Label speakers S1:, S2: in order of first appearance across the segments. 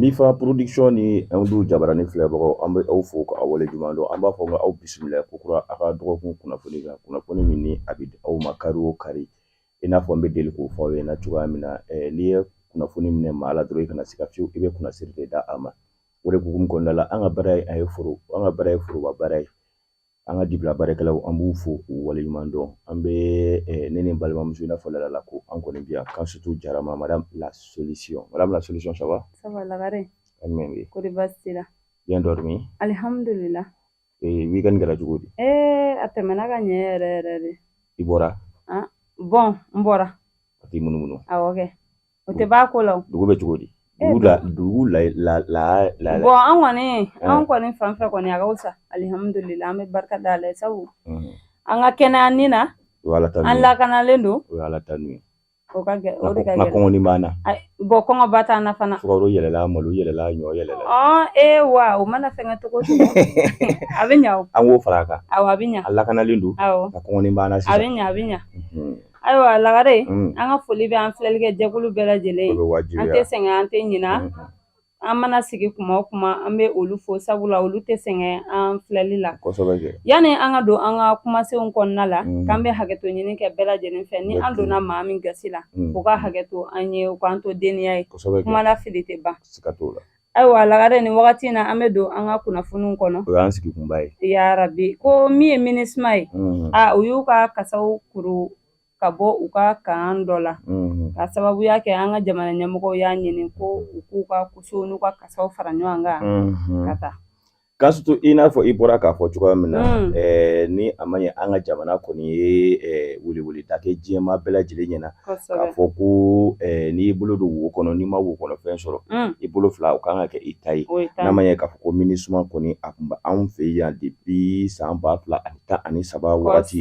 S1: Mifa porodiksiyɔn ni andu jabaranin filɛbagaw an bɛ aw fo ka aw wale ɲuman dɔn an b'a fɔ k'aw bisimila ko kura aw ka dɔgɔkun kunnafoni kan kunnafoni min n'a bɛ aw ma kari o kari i n'a fɔ n bɛ deli k'o fɔ aw ɲɛna cogoya min na n'i ye kunnafoni minɛ maa la dɔrɔn i kana se ka fiyewu i bɛ kunnasiri de da a ma o de hukumu kɔnɔna la an ka baara ye a ye foro an ka baara ye foroba baara ye an ka dibila baarakɛlaw an b'u fo k'u waleɲuman dɔn an bɛ ne ni n balimamuso i n'a fɔ la ko an kɔni bi yan Kansutu Jara ma madame la solution madame la solution ça va ça va lagare an
S2: ɲɛ bɛ kori
S1: baasi t'i la
S2: bien dormi
S1: alihamudulila
S2: Ee weekend
S1: kɛra cogo di ee a tɛmɛna
S2: ka ɲɛ yɛrɛ yɛrɛ de i
S1: bɔra bɔn
S2: n bɔra a t'i munumunu
S1: awɔ kɛ
S2: o tɛ b'a ko la dugu bɛ cogo di
S1: dugu la bɔn an
S2: kɔni an kɔni fan fɛ kɔni a ka wusa alihamdulila an bɛ barika da Ala ye sabu an ka kɛnɛya ni na an lakanalen don ala
S1: O ka gɛlɛn o de
S2: ka gɛlɛn nka kɔngɔni b'an
S1: na bɔn kɔngɔba
S2: t'an na fana sukaro yɛlɛla malo
S1: yɛlɛla ɲɔ yɛlɛla ɔn ee wa o mana fɛngɛ
S2: cogo o cogo a bɛ ɲa o an k'o fara a kan awɔ
S1: a bɛ ɲa a
S2: lakanalen don awɔ
S1: nka kɔngɔni b'an
S2: na a bɛ
S1: sisan ɲa a bɛ ɲa
S2: Mhm. ayiwa lagare Mm. an ka foli bɛ an filɛlikɛ jɛkulu bɛɛ lajɛlen o ye bɛ an tɛ wajibiya sɛgɛn an tɛ ɲina Mhm. an mana sigi kuma o kuma an bɛ olu fo sabula olu tɛ sɛgɛn an filɛli la kosɛbɛ kɛ yanni
S1: an ka don an ka
S2: kumasenw kɔnɔna la mm. k'an bɛ hakɛto ɲini kɛ bɛɛ lajɛlen fɛ ni an donna maa min gasi la mm. u ka hakɛto an ye u k'an to denniya ye kumala fili tɛ ban
S1: ayiwa lagare
S2: nin wagati in na an bɛ don an ka kunnafoniw kɔnɔ o y'an sigi kunba
S1: ye yarabi ko
S2: min ye MINUSMA ye mm. a u y'u ka kasaw kuru ka bɔ u ka kan dɔ la ka sababuya kɛ an ka jamana ɲɛmɔgɔw y'a ɲini ko u k'u ka kusow n'u ka kasaw fara ɲɔgɔn kan ka taa Kansutu i n'a fɔ i
S1: bɔra k'a fɔ cogoya min na ni a ma ye an ka jamana kɔni ye welewele da kɛ diɲɛma bɛɛ lajɛlen ɲɛna k'a fɔ ko n'i bolo don wo kɔnɔ n'i ma wo kɔnɔ fɛn sɔrɔ i bolo fila o ka kan ka kɛ i ta ye n'a ma ye k'a fɔ ko MINUSMA kɔni a tun bɛ anw fɛ yan depuis san ba fila ani tan ani saba waati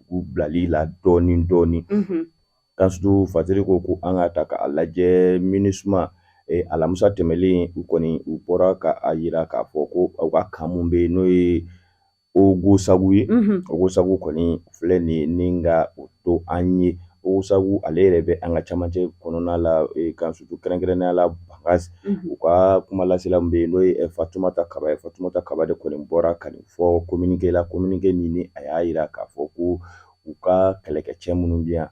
S1: u bilali la dɔɔni dɔɔni kansutu fatiri ko ko an ka ta k'a lajɛ MINUSMA alamisa tɛmɛnlen u kɔni u bɔra ka a jira k'a fɔ ko u ka kan min bɛ yen n'o ye Ogosagu ye Ogosagu kɔni filɛ ni ni ka o to an ye Ogosagu ale yɛrɛ bɛ an ka camancɛ kɔnɔna la Kansutu kɛrɛnkɛrɛnnenya la Bankasi u ka kumalasela min bɛ yen n'o ye Fatumata Kaba ye Fatumata Kaba de kɔni bɔra ka fɔ kominike la kominike min ni a y'a yira k'a fɔ ko u ka kɛlɛkɛcɛ minnu bɛ yan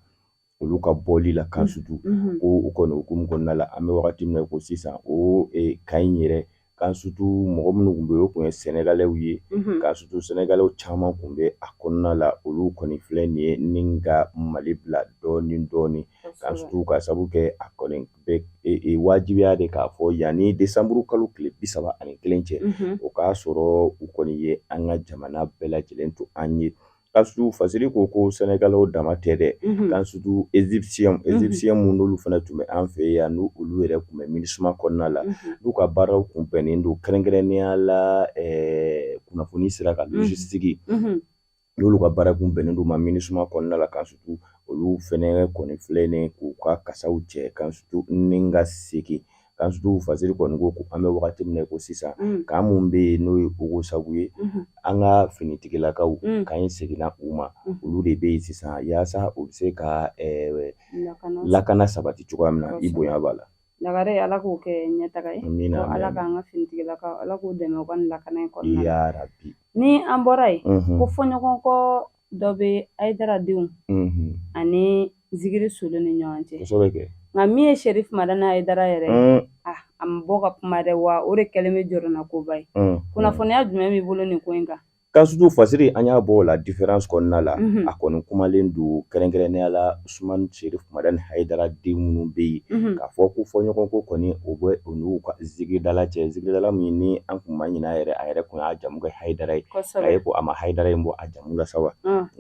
S1: olu ka bɔli la kan sutu ko u kɔni hukumu kɔnɔna la an bɛ wagati min na ko sisan o kan in yɛrɛ kan sutu mɔgɔ minnu tun bɛ yen o tun ye sɛnɛgalɛw ye kan sutu sɛnɛgalɛw caman tun bɛ a kɔnɔna la olu kɔni filɛ nin ye ni ka mali bila dɔɔnin dɔɔnin kan sutu k'a sabu kɛ a kɔni wajibiya de k'a fɔ yanni desanburu kalo tile bisaba ani kelen cɛ o k'a sɔrɔ u kɔni ye an ka jamana bɛɛ lajɛlen to an ye kan sutu fasiri ko ko sɛnɛgali dama tɛ dɛ kan sutu ezipisiyɛn minnu n'olu fana tun bɛ an fɛ yan n'olu yɛrɛ tun bɛ minisuma kɔnɔna la n'u ka baaraw kun bɛnnen don kɛrɛnkɛrɛnnenya la kunnafoni sira kan lozisitiki n'olu ka baara kun bɛnnen don ma minisuma kɔnɔna la kan sutu olu fɛnɛ kɔni filɛ nin ye k'u ka kasaw cɛ kan sutu ni ka segin kan sutu fasiri kɔni ko an bɛ wagati min na ko sisan kan mun bɛ yen n'o ye ogosagu ye an ka finitigilakaw kan in seginna u ma olu de bɛ yen sisan yaasa u bɛ se ka lakana sabati cogoya min na i bonya b'a la lagare ala
S2: k'o kɛ ɲɛtaga ye ala k'an ka finitigilakaw ala k'u dɛmɛ u ka lakana in kɔnɔna la ni
S1: an bɔra
S2: yen ko fɔɲɔgɔnkɔ dɔ bɛ ayidara denw ani zikiri solo ni ɲɔgɔn cɛ nka min
S1: ye sɛrifu
S2: madani ayidara yɛrɛ ye a ma bɔ ka kuma dɛ wa o de kɛlen bɛ jɔrɔnakoba ye kunnafoniya jumɛn b'i bolo nin ko in kan Kan
S1: sutu fasiri an y'a bɔ la diferansi kɔnɔna la a kɔni kumalen don kɛrɛnkɛrɛnnenya la usumani sɛrifu madani ayidara den minnu bɛ yen k'a fɔ ko fɔɲɔgɔnkɔ kɔni o bɛ u n'u ka zikiridala cɛ zikiridala min ni an tun ma ɲin'a yɛrɛ a yɛrɛ tun y'a jamu kɛ ayidara ye a ye ko a ma ayidara in bɔ a jamu la sa wa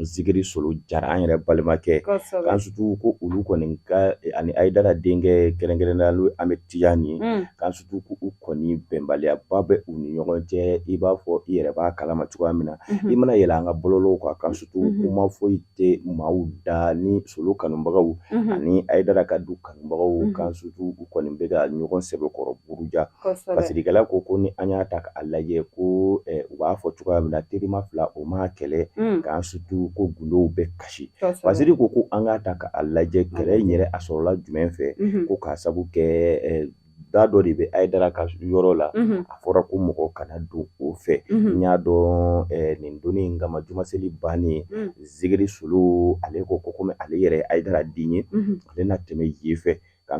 S1: zikiri solo jara an yɛrɛ balimakɛ kan sutu ko olu kɔni ka ani ayidara denkɛ kɛrɛnkɛrɛnnenya la an bɛ tijani kan du u kɔni bɛnbaliyaba bɛ u ni ɲɔgɔn cɛ i b'a fɔ i yɛrɛ b'a kalama cogoya min na i mana yɛlɛ an ka bɔlɔlɔw kan kan sutu kuma foyi tɛ maaw da ni solo kanubagaw ani ayidara ka du kanubagaw kan sutu u kɔni bɛ ka ɲɔgɔn sɛbɛkɔrɔ buruja fasirikɛla ko ko ni an y'a ta k'a lajɛ ko u b'a fɔ cogoya min na terima fila o ma kɛlɛ kan sutu ko gundo bɛ kasi fasiri ko ko an k'a ta k'a lajɛ kɛlɛ yɛrɛ a sɔrɔla jumɛn fɛ ko k'a sabu kɛ da dɔ de bɛ ayidara ka yɔrɔ la a fɔra ko mɔgɔ kana don o fɛ n y'a dɔn nin don in kama juma seli bannen zikiri solo ale ko ko kɔmi ale yɛrɛ ayidara den ye ale na tɛmɛ yen fɛ ka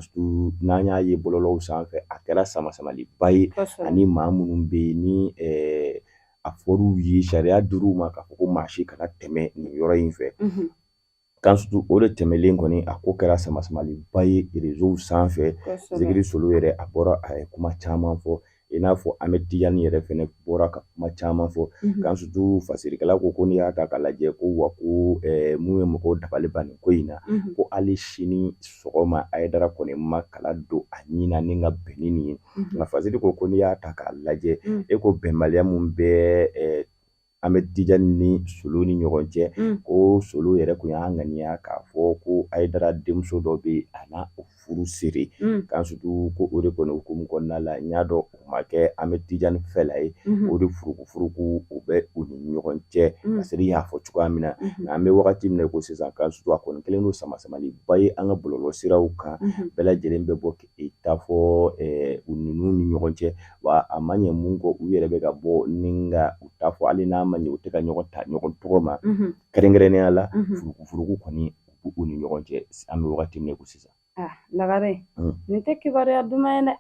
S1: n'an y'a ye bɔlɔlɔw sanfɛ a kɛra samasamaliba ye ani maa minnu bɛ yen ni a fɔr'u ye sariya dir'u ma k'a fɔ ko maa si kana tɛmɛ nin yɔrɔ in fɛ kantu o de tɛmɛnlen kɔni a ko kɛra samasamaliba ye rezo sanfɛ zikiri solo yɛrɛ a bɔra a ye kuma caman fɔ i n'a fɔ amɛdi tijani yɛrɛ fana bɔra ka kuma caman fɔ kantu fasirikɛla ko ko n'i y'a ta k'a lajɛ ko wa ko minnu ye mɔgɔw dabali ban nin ko in na ko hali sini sɔgɔma ayidara kɔni ma kala don a ɲin ni ka bɛnnen ye nka fasiri ko ko n'i y'a ta k'a lajɛ e ko bɛnbaliya minnu bɛ amɛdi tijani ni solo ni ɲɔgɔn cɛ ko solo yɛrɛ kun y'a ŋaniya k'a fɔ ko ayidara denmuso dɔ bɛ a na furu siri k'an sutu ko o de kɔni hukumu kɔnɔna la n y'a dɔn o ma kɛ amɛdi tijani fɛla ye o de furugufurugu bɛ u ni ɲɔgɔn cɛ fasiri y'a fɔ cogoya min na nka an bɛ wagati min ko sisan k'an su a kɔni kɛlen don samasamaliba ye an ka bɔlɔlɔ siraw kan bɛɛ lajɛlen bɛ bɔ ka i ta fɔ u ninnu ni ɲɔgɔn cɛ wa a ma ɲɛ mun kɔ u yɛrɛ bɛ ka bɔ ni ka u ta fɔ hali n'a ma ɲɛ u tɛ ka ɲɔgɔn ta ɲɔgɔn tɔgɔ ma kɛrɛnkɛrɛnnenya la furugufurugu kɔni u u ni ɲɔgɔn cɛ an bɛ wagati min ko sisan
S2: lagare nin tɛ kibaruya duman ye dɛ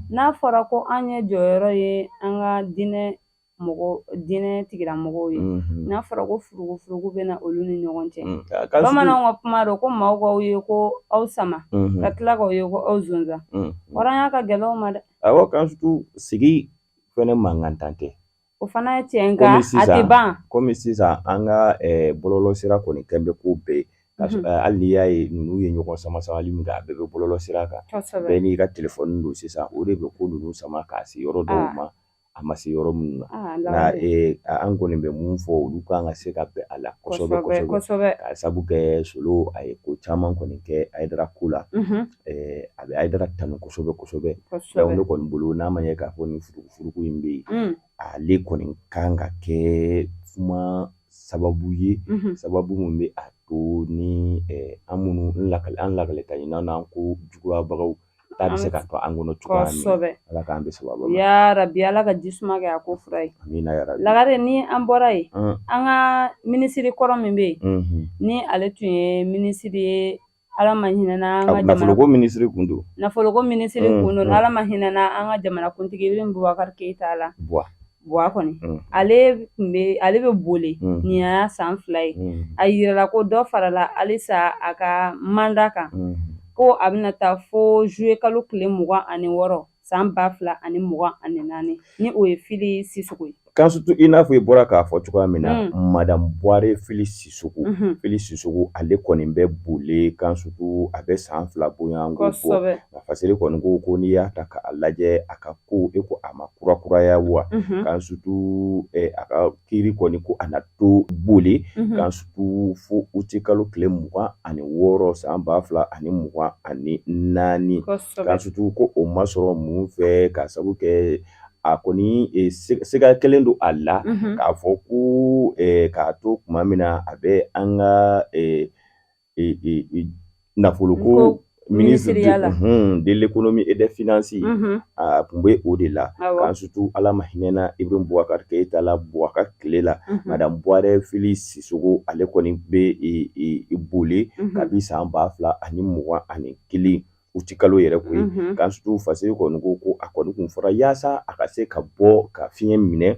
S2: n'a fɔra ko an ye jɔyɔrɔ ye an ka diinɛ mɔgɔ diinɛ tigilamɔgɔw ye n'a fɔra ko furuku furuku bɛ na olu ni ɲɔgɔn cɛ bamananw ka kuma don ko maaw k'aw ye ko aw sama ka tila k'aw ye ko aw zonzan hɔrɔnya ka gɛlɛn aw ma dɛ awɔ ka
S1: sigi fɛnɛ mankantan tɛ o fana ye
S2: tiɲɛ nka a tɛ ban komi sisan
S1: an ka bɔlɔlɔ sira kɔni kɛlen bɛ ko bɛɛ hali n'i y'a ye ninnu ye ɲɔgɔn samasamali min kɛ a bɛɛ bɛ bɔlɔlɔ sira kan bɛɛ n'i ka telefɔni don sisan o de bɛ ko ninnu sama k'a se yɔrɔ dɔw ma a ma se yɔrɔ minnu na nka an kɔni bɛ mun fɔ olu kan ka se ka bɛn a la kosɛbɛ kosɛbɛ ka sabu kɛ solo a ye ko caman kɔni kɛ ayidara ko la a bɛ ayidara tanu kosɛbɛ kosɛbɛ ne kɔni bolo n'a ma ye k'a fɔ ni furuku in bɛ yen ale kɔni kan ka kɛ kuma sababu ye sababu min bɛ a to ni an minnu lakali an lakalita ɲin n'an ko juguyabagaw ta bɛ se ka to an kɔnɔ cogoya min kosɛbɛ ala k'an bɛn sababu ma ya rabi ala ka
S2: ji suma kɛ a ko fura ye amina ya rabi lagare ni an bɔra yen mm. an ka minisiri kɔrɔ min bɛ yen mm-hmm. ni ale tun ye minisiri ye ala ma hinɛna an ka nafoloko minisiri kun
S1: don nafoloko minisiri kun don
S2: mm-hmm. ala ma hinɛna an ka jamanakuntigi ibrahim bubakari keyita la Buwa kɔni ale tun bɛ ale bɛ boli nin y'a san fila ye a yirala ko dɔ farala halisa a ka manda kan ko a bɛna taa fo zuye kalo tile mugan ani wɔɔrɔ san ba fila ani mugan ani naani ni o ye fili sisoko ye kantu i n'a
S1: fɔ i bɔra k'a fɔ cogoya min na madamu buwarɛ fili sisoko fili sisoko ale kɔni bɛ boli kantu a bɛ san fila bɔɲɔgɔnko a fasiri kɔni ko ko n'i y'a ta k'a lajɛ a ka ko e ko a ma kura kuraya wa k'an sutu a ka kiri kɔni ko a na to bole k'an sutu fo uti kalo tile mugan ani wɔɔrɔ san ba fila ani mugan ani naani k'an sutu ko o ma sɔrɔ mun fɛ ka sabu kɛ a kɔni siga kɛlen don a la k'a fɔ ko k'a to tuma min na a bɛ an ka nafoloko ministre de l'économie et des finances a tun bɛ o de la k'an sutu ala ma hinɛna ibrahim bubakari keyita la buwa ka tile la madamu buwarɛ fili sisoko ale kɔni bɛ bole kabi san ba fila ani mugan ani kelen uti kalo yɛrɛ ko ye k'an sutu fasiri kɔni ko ko a kɔni kun fɔra yaasa a ka se ka bɔ ka fiɲɛ minɛ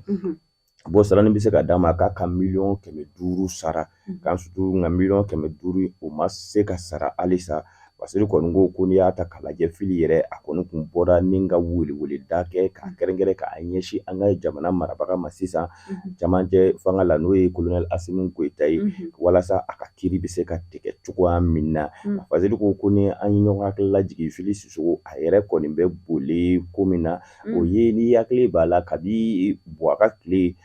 S1: bɔ sara ni bɛ se ka d'a ma k'a ka miliyɔn kɛmɛ duuru sara k'an sutu nka miliyɔn kɛmɛ duuru o ma se ka sara halisa parce que kɔni ko ko n'i y'a ta k'a lajɛ fili yɛrɛ a kɔni kun bɔra ni ka weleweleda kɛ k'a kɛrɛnkɛrɛn k'a ɲɛsin an ka jamana marabaga ma sisan camancɛ fanga la n'o ye kolonɛli asimi goyita ye walasa a ka kiri bɛ se ka tigɛ cogoya min na parce que ko ni an ye ɲɔgɔn hakili lajigi fili sisoko a yɛrɛ kɔni bɛ bole ko min na o ye n'i hakili b'a la kabi buwa ka tile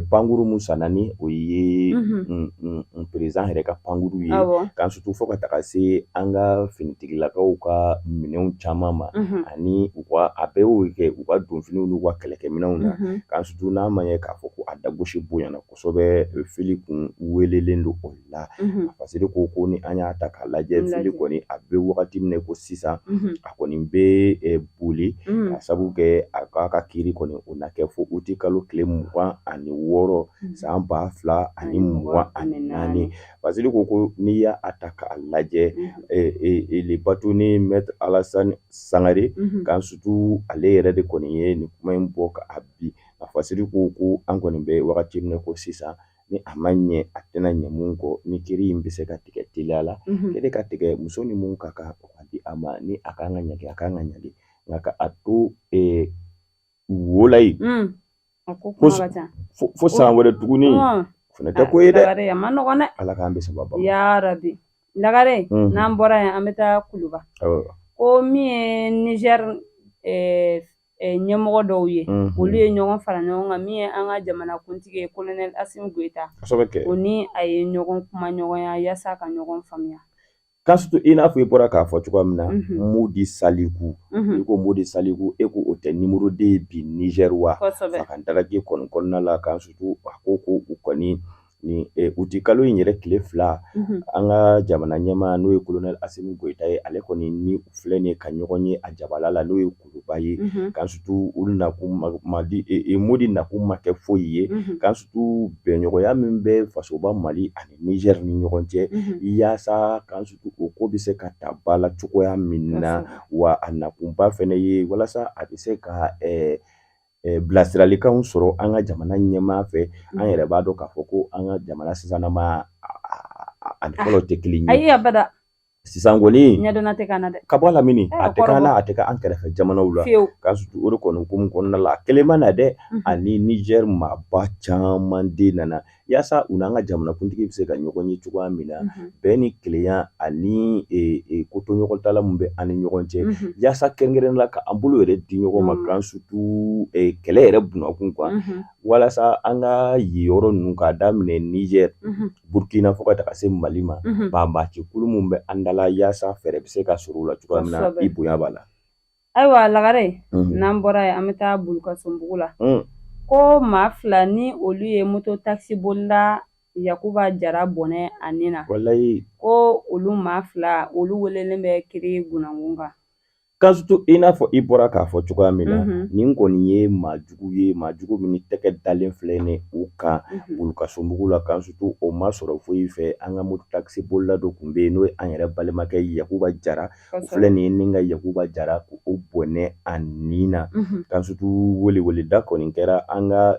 S1: pankurun min sanna ni o ye peresidan yɛrɛ ka pankurun ye k'an sutu fɔ ka taga se an ka finitigilakaw ka minɛnw caman ma ani a bɛɛ y'o kɛ u ka donfiniw n'u ka kɛlɛkɛminɛnw na k'an sutu n'a ma ye k'a fɔ ko a da gosi bonyana ko kosɛbɛ fili kun welelen don o la fasiri ko ko ni an y'a ta k'a lajɛ fili kɔni a bɛ wagati min ko sisan a kɔni bɛ bole ka sabu kɛ a ka kiri kɔni o na kɛ fo uti kalo tile mugan ani wɔɔrɔ san ba fila ani mugan ani naani fasiri ko ko n'i y'a ta k'a lajɛ le bâtonnier maître alasani sangare k'an sutu ale yɛrɛ de kɔni ye nin kuma in bɔ ka a bi a fasiri ko ko an kɔni bɛ wagati min ko sisan ni a ma ɲɛ a tɛna ɲɛ mun kɔ ni kiri in bɛ se ka tigɛ teliya la kiri ka tigɛ muso ni mun ka kan o ka di a ma ni a kan ka ɲangi a kan ka ɲangi nka ka a to wo la yi fo san wɛrɛ tuguni fana tɛ ko ye dɛ ala k'an bɛɛ sababa bi
S2: lagare n'an bɔra yen an bɛ taa kuluba ko min ye nizɛri ɲɛmɔgɔ dɔw ye olu ye ɲɔgɔn fara ɲɔgɔn kan min ye an ka jamanakuntigi ye kolonɛli asimi goyita o ni a ye ɲɔgɔn kuma ɲɔgɔnya yaasa ka ɲɔgɔn faamuya k'an sutu i
S1: n'a fɔ i bɔra k'a fɔ cogoya min na modi saliku i ko modi saliku e ko o tɛ numéro deux ye bi nizɛri wa ka dagaji kɔni kɔnɔna la k'an sutu a ko ko u kɔni nin uti kalo in yɛrɛ tile fila an ka jamana ɲɛmaa n'o ye kolonɛli Asimi Goyita ye ale kɔni ni filɛ de ka ɲɔgɔn ye a jabala la n'o ye kuluba ye k'an sutu olu nakun Modi nakun ma kɛ foyi ye k'an sutu bɛnɲɔgɔnya min bɛ fasoba mali ani Nizɛri ni ɲɔgɔn cɛ yaasa k'an sutu o ko bɛ se ka ta ba la cogoya min na wa a nakunba fɛnɛ ye walasa a bɛ se ka bilasiralikanw sɔrɔ an ka jamana ɲɛmaa fɛ an yɛrɛ b'a dɔn k'a fɔ ko an ka jamana sisanama ani fɔlɔ tɛ kelen ye sisan kɔni
S2: ka bɔ lamini a
S1: tɛ a tɛ an kɛrɛfɛ jamanaw la k'an sutu o de kɔni hukumu kɔnɔna la a kelen ma na dɛ ani Nizɛri maaba caman de nana Yaasa u n'an ka jamanakuntigi bɛ se ka ɲɔgɔn ye cogoya min na bɛn ni kelenya ani kotoɲɔgɔntala min bɛ an ni ɲɔgɔn cɛ yaasa kɛrɛnkɛrɛnnen la k'an bolo yɛrɛ di ɲɔgɔn ma k'an sutu kɛlɛ yɛrɛ kunnakun kan walasa an ka yen yɔrɔ ninnu k'a daminɛ Nizɛri Burukina fo ka taa se mali ma banbaacikulu minnu bɛ an dala yaasa fɛɛrɛ bɛ se ka sɔrɔ o la cogoya min na i bonya b'a la Ayiwa
S2: lagare n'an bɔra yen an bɛ taa Bulukasumbugu la ko maa fila ni olu ye moto takisibolila yakuba jara bɔnɛ a ni na ko olu maa fila olu welelen bɛ kiri kunnakun kan k'an sutu i
S1: n'a fɔ i bɔra k'a fɔ cogoya min na nin kɔni ye maa jugu ye maa jugu min tɛgɛ dalen filɛ nin u kan Bulukasumbugu la k'an sutu o ma sɔrɔ foyi fɛ an ka moto takisibolila dɔ tun bɛ yen n'o ye an yɛrɛ balimakɛ yakuba jara filɛ nin ye ni ka yakuba jara ko o bɔnɛ a ni na k'an sutu weleweleda kɔni kɛra an ka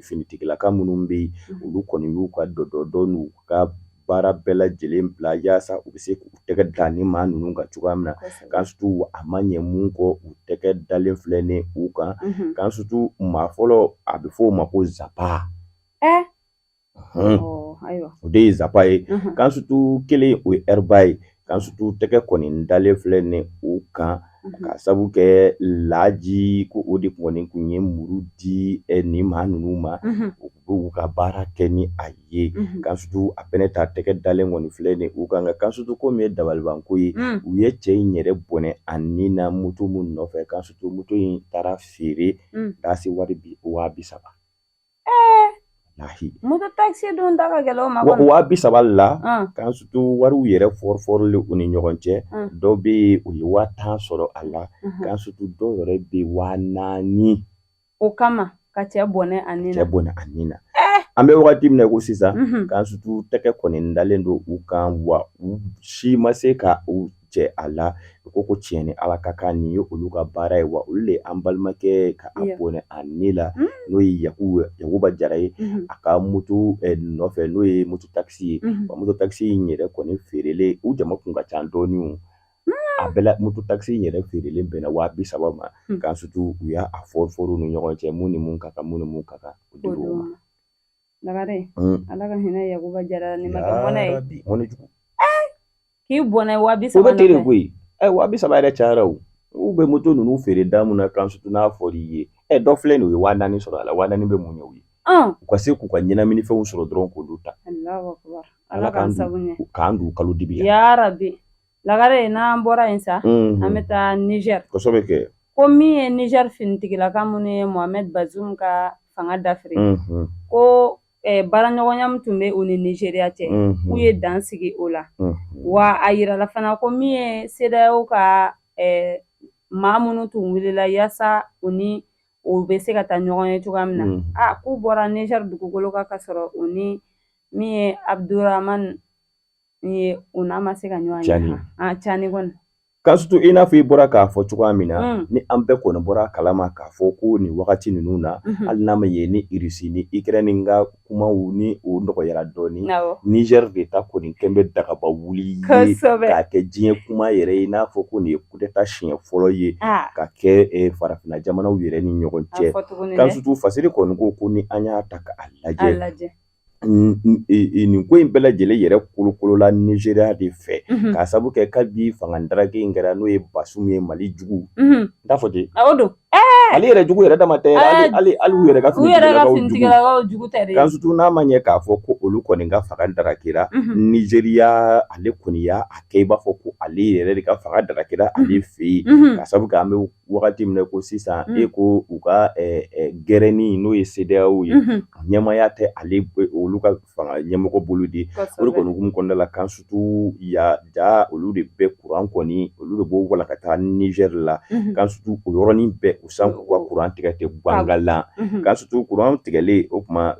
S1: finitigilaka minnu bɛ yen olu kɔni y'u ka dɔ dɔ dɔ n'u ka baara bɛɛ lajɛlen bila yaasa u bɛ se k'u tɛgɛ da nin maa ninnu kan cogoya min na k'an sutu a ma ɲɛ min kɔ u tɛgɛ dalen filɛ ni u kan k'an sutu maa fɔlɔ a bɛ fɔ o ma ko Zapa o de ye Zapa ye k'an sutu kelen o ye ba ye k'an sutu tɛgɛ kɔni dalen filɛ ni u kan ka sabu kɛ laji ko o de kɔni tun ye muru di ni maa ninnu ma u bɛ u ka baara kɛ ni a ye k'an sutu a bɛɛ ta tɛgɛ dalen kɔni filɛ ni u kan k'an sutu ko min ye dabalibanko ye u ye cɛ in yɛrɛ bɔnɛ a ni na moto min nɔfɛ k'an sutu moto in taara feere taa se wari waa bi saba
S2: moto takisi dun da ka gɛlɛn o ma kɔni waa bi saba
S1: la k'an sutu wariw yɛrɛ fɔrifɔrilen u ni ɲɔgɔn cɛ dɔw bɛ yen u ye waa tan sɔrɔ a la k'an sutu dɔw yɛrɛ bɛ yen waa naani o
S2: kama ka cɛ bɔnɛ a ni na cɛ bɔnɛ a ni
S1: na an bɛ wagati min na ko sisan k'an sutu tɛgɛ kɔni dalen don u kan wa u si ma se ka u cɛ a la u ko ko tiɲɛ ni ala ka kan nin ye olu ka baara ye wa olu de an balimakɛ ka a bɔnɛ a ni la n'o ye yakuba jara ye a ka moto nɔfɛ n'o ye moto takisi ye wa moto takisi in yɛrɛ kɔni feerelen u jama tun ka ca dɔɔnin a bɛ moto takisi in yɛrɛ feerelen bɛnna waa bi saba ma k'an sutu u y'a fɔ u ni ɲɔgɔn cɛ mun ni mun ka kan mun ni mun ka kan o dir'u ma
S2: lagare ala ka hinɛ yakuba jara ni mɔgɔ jugu k'i bɔnɛ waa bi saba o bɛ tere
S1: koyi ɛ waa bi saba yɛrɛ cayara o u bɛ moto ninnu feere da mun na k'an sutu n'a fɔr'i ye ɛ dɔ filɛ nin ye waa naani sɔrɔ a la waa naani bɛ mun ye u ye u ka se k'u ka ɲɛnaminifɛnw sɔrɔ dɔrɔn k'olu ta ala k'an sabu ɲɛ k'an don kalo dibi
S2: yarabi lagare n'an bɔra yen sa an bɛ taa niger kosɛbɛ kɛ ko
S1: min ye niger
S2: finitigilaka minnu ye mohamed bazoum ka fanga dafiri ko baaraɲɔgɔnya min tun bɛ u ni Nizeriya cɛ k'u ye dan sigi o la wa a yirala fana ko min ye CEDEAO ka maa minnu tun wulila yaasa u ni o bɛ se ka taa ɲɔgɔn ye cogoya min na a k'u bɔra Nizɛri dugukolo kan ka sɔrɔ u ni min ye Abudurahamani ye u n'a ma se ka ɲɔgɔn ye Cani Cani kɔni K'an sutu i
S1: n'a fɔ i bɔra k'a fɔ cogoya min na ni an bɛɛ kɔni bɔra kala ma k'a fɔ ko nin wagati ninnu na hali n'a ma ye ni irisi ni ikrɛni ka kumaw ni o nɔgɔyara dɔɔnin nizɛri de ta kɔni kɛlen bɛ dagaba wuli ye ka kɛ diɲɛ kuma yɛrɛ ye n'a fɔ ko nin ye kudeta siɲɛ fɔlɔ ye ka kɛ farafinna jamanaw yɛrɛ ni ɲɔgɔn cɛ k'an sutu fasiri kɔni ko ko ni an y'a ta ka a lajɛ nin ko in bɛɛ lajɛlen yɛrɛ kolokolola nizeriya de fɛ k'a sabu kɛ kabi fanga daraki in kɛra n'o ye bazoum ye mali jugu n t'a fɔ ten don ale yɛrɛ jugu yɛrɛ dama tɛ hali u yɛrɛ ka finitigilakaw jugu don k'an sutu n'a ma ɲɛ k'a fɔ ko olu kɔni ka fanga darakira nizeriya ale kɔni y'a kɛ i b'a fɔ ko ale yɛrɛ de ka fanga darakira ale fɛ yen k'a sabu kɛ an bɛ wagati min ko sisan e ko u ka gɛrɛnin n'o ye CEDEAO ye ɲɛmaaya tɛ ale olu ka fanga ɲɛmɔgɔ bolo de o de kɔni hukumu kɔnɔna la k'an sutu ya ja olu de bɛ kuran kɔni olu de b'o wala ka taa nizɛri la k'an sutu o yɔrɔnin bɛɛ u san k'u ka kuran tigɛ tɛ ganla k'an sutu kuran tigɛlen o tuma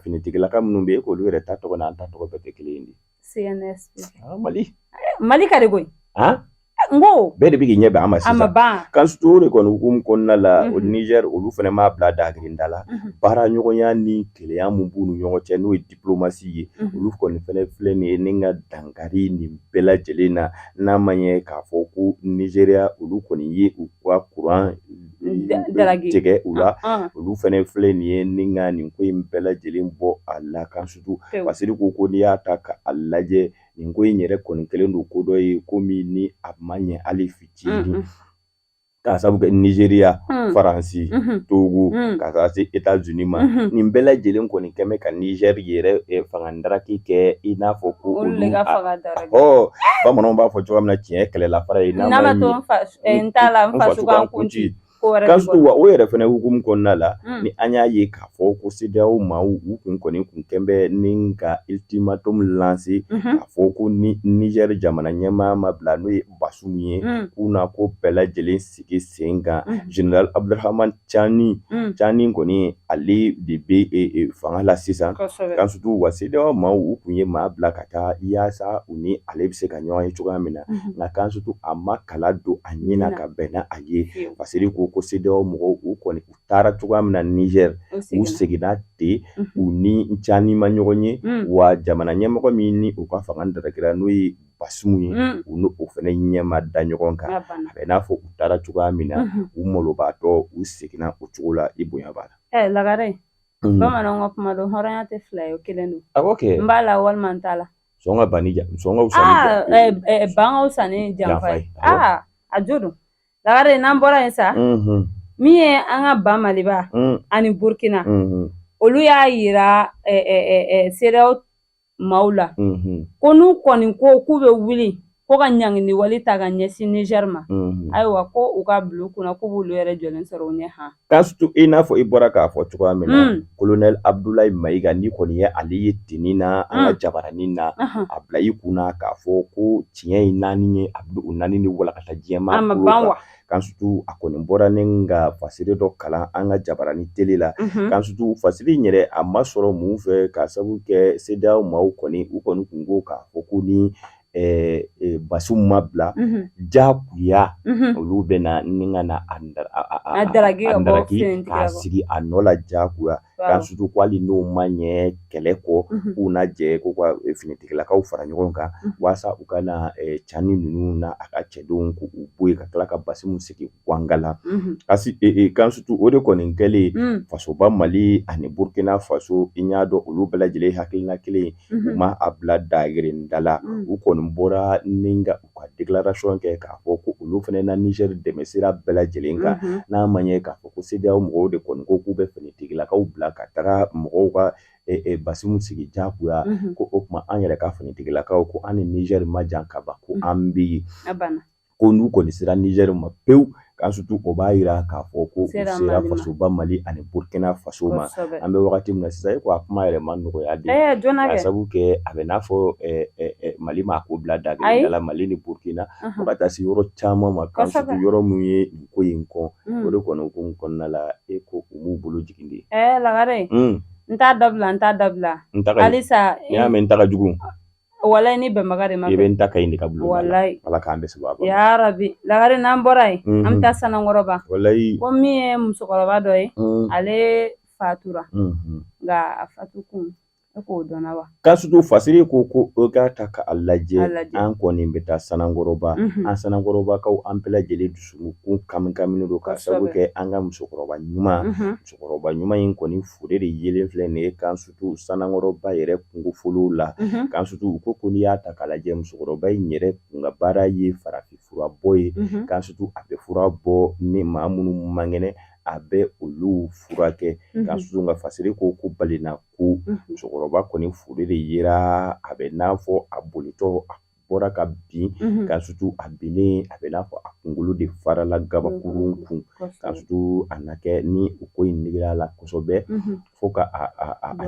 S1: finitigilaka minnu bɛ yen k'olu yɛrɛ ta tɔgɔ n'an ta tɔgɔ bɛɛ tɛ kelen ye
S2: CNSP. Ah, Mali.
S1: Eh, Mali ka de koyi.
S2: Han? Eh, n
S1: ko. Bɛɛ de bɛ k'i ɲɛ bɛn a ma sisan. A ma ban. K'an sutu o de kɔni hukumu kɔnɔna la, o mhm. Niger olu fana m'a bila dagirinda la. Mhm. Baara ɲɔgɔnya ni kelenya mun b'u ni ɲɔgɔn cɛ n'o ye diplomasi ye, mhm. olu kɔni fana filɛ nin ye ni ka dankari nin bɛɛ lajɛlen na, n'a ma ɲɛ k'a fɔ ko Nigeria olu kɔni ye u ka kuran tigɛ u la olu fana filɛ nin ye ni ka nin ko in bɛɛ lajɛlen bɔ a la kan sutu paseke ko n'i y'a ta k'a lajɛ nin ko in yɛrɛ kɔni kɛlen don ko dɔ ye ko min ni a ma ɲɛ hali fitinin k'a sabu kɛ nizeriya faransi togo ka taa se etazini ma nin bɛɛ lajɛlen kɔni kɛn bɛ ka nizɛri yɛrɛ fangadaraki kɛ i n'a fɔ ko bamananw b'a fɔ cogoya min na tiɲɛ kɛlɛla fara ye n t'a la n faso ka n kun ci kan sutu wa o yɛrɛ fɛnɛ hokumu kɔnɔna la ni an y'a ye k'a fɔ ko CEDEAO maaw u kun kɔni kun kɛn bɛ ni ka ultimatum lancer k'a fɔ ko ni nizɛri jamana ɲɛmaa ma bila n'o ye Bazoum ye k'u na ko bɛɛ lajɛlen sigi sen kan général Abdourahmane caani caani kɔni ale de bɛ fanga la sisan kan sutu wa CEDEAO maaw u kun ye maa bila ka taa yaasa u ni ale bɛ se ka ɲɔgɔn ye cogoya min na nka kan sutu a ma kala don a ɲɛ na ka bɛn n'a ye parce que ko CEDEAO mɔgɔw u kɔni u taara cogoya min na Niger u seginna ten u ni caani ma ɲɔgɔn ye wa jamana ɲɛmɔgɔ min ni u ka fanga darakira n'o ye Bazoum ye u n'o fana ɲɛ ma da ɲɔgɔn kan a bɛ n'a fɔ u taara cogoya min na u malobaatɔ u seginna o cogo la i bonya b'a la lagare
S2: bamananw ka kuma don hɔrɔnya tɛ fila ye kelen don a kɛ n b'a la walima n t'a la sɔn ka ban ni ban ka fisa ni janfa ye aa a jo don lagare n'an bɔra yen sa min ye an ka ba maliba ani burukina olu y'a yira CEDEAO maaw la ko n'u kɔni ko k'u bɛ wuli ko ka ɲangini wale ta ka ɲɛsin Niger ma ayiwa ko u k'a bila u kunna k'u b'olu yɛrɛ jɔlen sɔrɔ u ɲɛ han kan sutu i n'a
S1: fɔ i bɔra k'a fɔ cogoya min na colonel Abdoulaye Mayiga ni kɔni ye ale ye tinni na an ka jabaranin na a bila i kunna k'a fɔ ko tiɲɛ ye naani ye a bɛ o naani nin walankata diɲɛmaa kulo kan. kan sutu a kɔni bɔra ni ka fasiri dɔ kalan an ka jabaranin tele la kan sutu fasiri in yɛrɛ a ma sɔrɔ mun fɛ k'a sabu kɛ CEDEAO maaw kɔni u kɔni kun ko k'a fɔ ko ni Bazoum ma bila jagoya olu bɛ na ni ka na a daraki k'a sigi a nɔ la jagoya kan sutu ko hali n'o ma ɲɛ kɛlɛ kɔ k'u na jɛ k'u ka finitigilakaw fara ɲɔgɔn kan walasa u ka na caani ninnu n'a ka cɛdenw k'u bɔ yen ka tila ka Bazoum sigi wanga la kasi kan sutu o de kɔni kɛlen fasoba mali ani burukina faso i y'a dɔn olu bɛɛ lajɛlen hakilina kelen u ma a bila dayirinda la u kɔni bɔra ni ka ka déclaration kɛ k'a fɔ ko olu fana na Niger dɛmɛ sira bɛɛ lajɛlen kan n'a ma ɲɛ k'a fɔ ko CEDEAO mɔgɔw de kɔni ko k'u bɛ finitigilakaw bila ka taga mɔgɔw ka Bazoum sigi jagoya ko o tuma an yɛrɛ ka finitigilakaw ko an ni Niger ma jan ka ban ko an bɛ yen ko n'u kɔni sera Niger ma pewu k'an sutu o b'a yira k'a fɔ ko u sera fasoba mali ani burukina faso ma an bɛ wagati min na sisan e ko a kuma yɛrɛ ma nɔgɔya de k'a sabu kɛ a bɛ n'a fɔ mali ma ko bila da la mali ni burukina fo ka taa se yɔrɔ caman ma k'an sutu yɔrɔ minnu ye nin ko in kɔ o de kɔni hukumu kɔnɔna la e ko u m'u bolo jigin de lagare
S2: n t'a dabila n t'a dabila halisa n'i y'a mɛn n ta ka jugu
S1: walayi
S2: ni bɛnbaga de ma i bɛ n ta ka ɲi de ka
S1: bulon walayi ala k'an bɛɛ
S2: saba
S1: ya rabi
S2: lagare n'an bɔra yen an bɛ taa sanankɔrɔba walayi ko min
S1: ye musokɔrɔba
S2: dɔ ye ale fatura nka a fatu kun e k'o dɔnna wa k'an sutu fasiri
S1: ko ko o k'a ta k'a lajɛ an kɔni bɛ taa sanankɔrɔba an sanankɔrɔbakaw an bɛɛ lajɛlen dusukun kami kaminen don k'a sabu kɛ an ka musokɔrɔba ɲuman musokɔrɔba ɲuman in kɔni fure de yelen filɛ nin ye k'an su tu sanankɔrɔba yɛrɛ kungofolow la k'an sutu u ko ko n'i y'a ta k'a lajɛ musokɔrɔba in yɛrɛ kun ka baara ye farafin furabɔ ye k'an sutu a bɛ fura bɔ ni maa minnu man kɛnɛ a bɛ olu furakɛ k'an sutu nka fasiri ko ko balina ko musokɔrɔba kɔni fure de yera a bɛ n'a fɔ a bolitɔ bɔra ka bin k'an sutu a binnen a bɛ n'a fɔ a kunkolo de farala gabakurun kun k'an sutu a na kɛ ni o ko in digir'a la kosɛbɛ fo k'a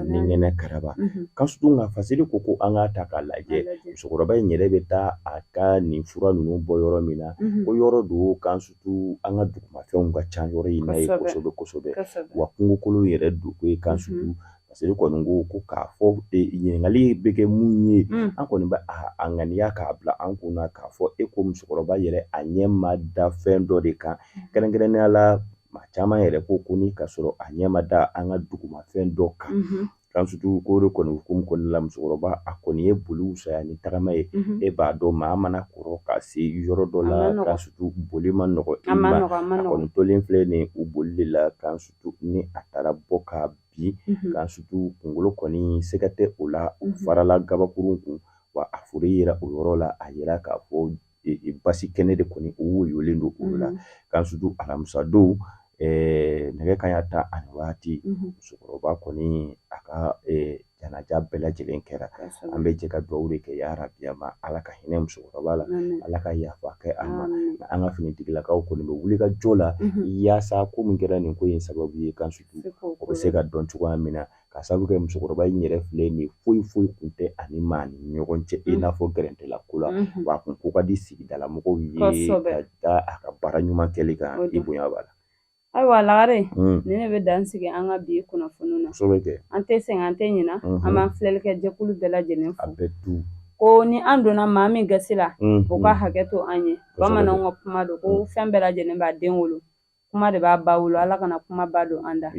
S1: nɛnɛ karaba k'an sutu nka fasiri ko ko an k'a ta k'a lajɛ musokɔrɔba in yɛrɛ bɛ taa a ka nin fura ninnu bɔ yɔrɔ min na ko yɔrɔ don k'an sutu an ka dugumafɛnw ka ca yɔrɔ in na ye kosɛbɛ kosɛbɛ wa kungokolo yɛrɛ don ko ye k'an sutu Parce que kɔni ko ko k'a fɔ ɲininkali bɛ kɛ mun ye an kɔni bɛ a ŋaniya k'a bila an kun na k'a fɔ e ko musokɔrɔba yɛrɛ a ɲɛ ma da fɛn dɔ de kan kɛrɛnkɛrɛnnenya la maa caman yɛrɛ ko ko ni ka sɔrɔ a ɲɛ ma da an ka dugumafɛn dɔ kan k'an sutu k'o de kɔni hukumu kɔnɔna la musokɔrɔba a kɔni ye boli wusaya ni tagama ye e b'a dɔn maa mana kɔrɔ ka se yɔrɔ dɔ la k'an sutu boli man nɔgɔ i ma a kɔni tolen filɛ nin u boli de la k'an sutu ni a taara bɔ ka bin k'an sutu kunkolo kɔni siga tɛ o la u farala gabakurun kun wa a fure yera o yɔrɔ la a yira k'a fɔ basi kɛnɛ de kɔni u woyolen don o la k'an sutu alamisadon nɛgɛ kanɲɛ tan ani waati musokɔrɔba kɔni a ka janaja bɛɛ lajɛlen kɛra an bɛ jɛ ka dugawu de kɛ ya rabi ma ala ka hinɛ musokɔrɔba la ala ka yafa kɛ a ma an ka finitigilakaw kɔni bɛ wuli ka jɔ la yaasa ko min kɛra nin ko in sababu ye k'an o bɛ se ka dɔn cogoya min na k'a sababu kɛ musokɔrɔba in yɛrɛ filɛ nin ye foyi foyi kun tɛ a ni maa ni ɲɔgɔn cɛ i n'a fɔ gɛrɛntɛla ko la wa a kun ko ka di sigidala mɔgɔw ye ka da a ka baara ɲuman kɛli kan i bonya b'a la ayiwa lagare
S2: ni ne bɛ dan sigi an ka bi kunnafoni na kosɛbɛ kɛ an tɛ sɛgɛn an tɛ ɲina an b'an filɛlikɛ jɛkulu bɛɛ lajɛlen fo a bɛ du ko ni an donna maa min gasi la o ka hakɛ to an ye bamananw ka kuma don ko fɛn bɛɛ lajɛlen b'a den wolo kuma de b'a ba wolo ala kana kuma ba don an da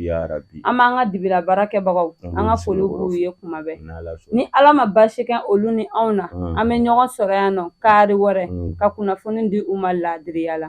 S2: an b'an ka dibira baarakɛbagaw an ka foli b'u ye kuma bɛɛ ni ala ma baasi kɛ olu ni anw na an bɛ ɲɔgɔn sɔrɔ yan nɔ kaari wɛrɛ ka kunnafoni di u ma laadiriya la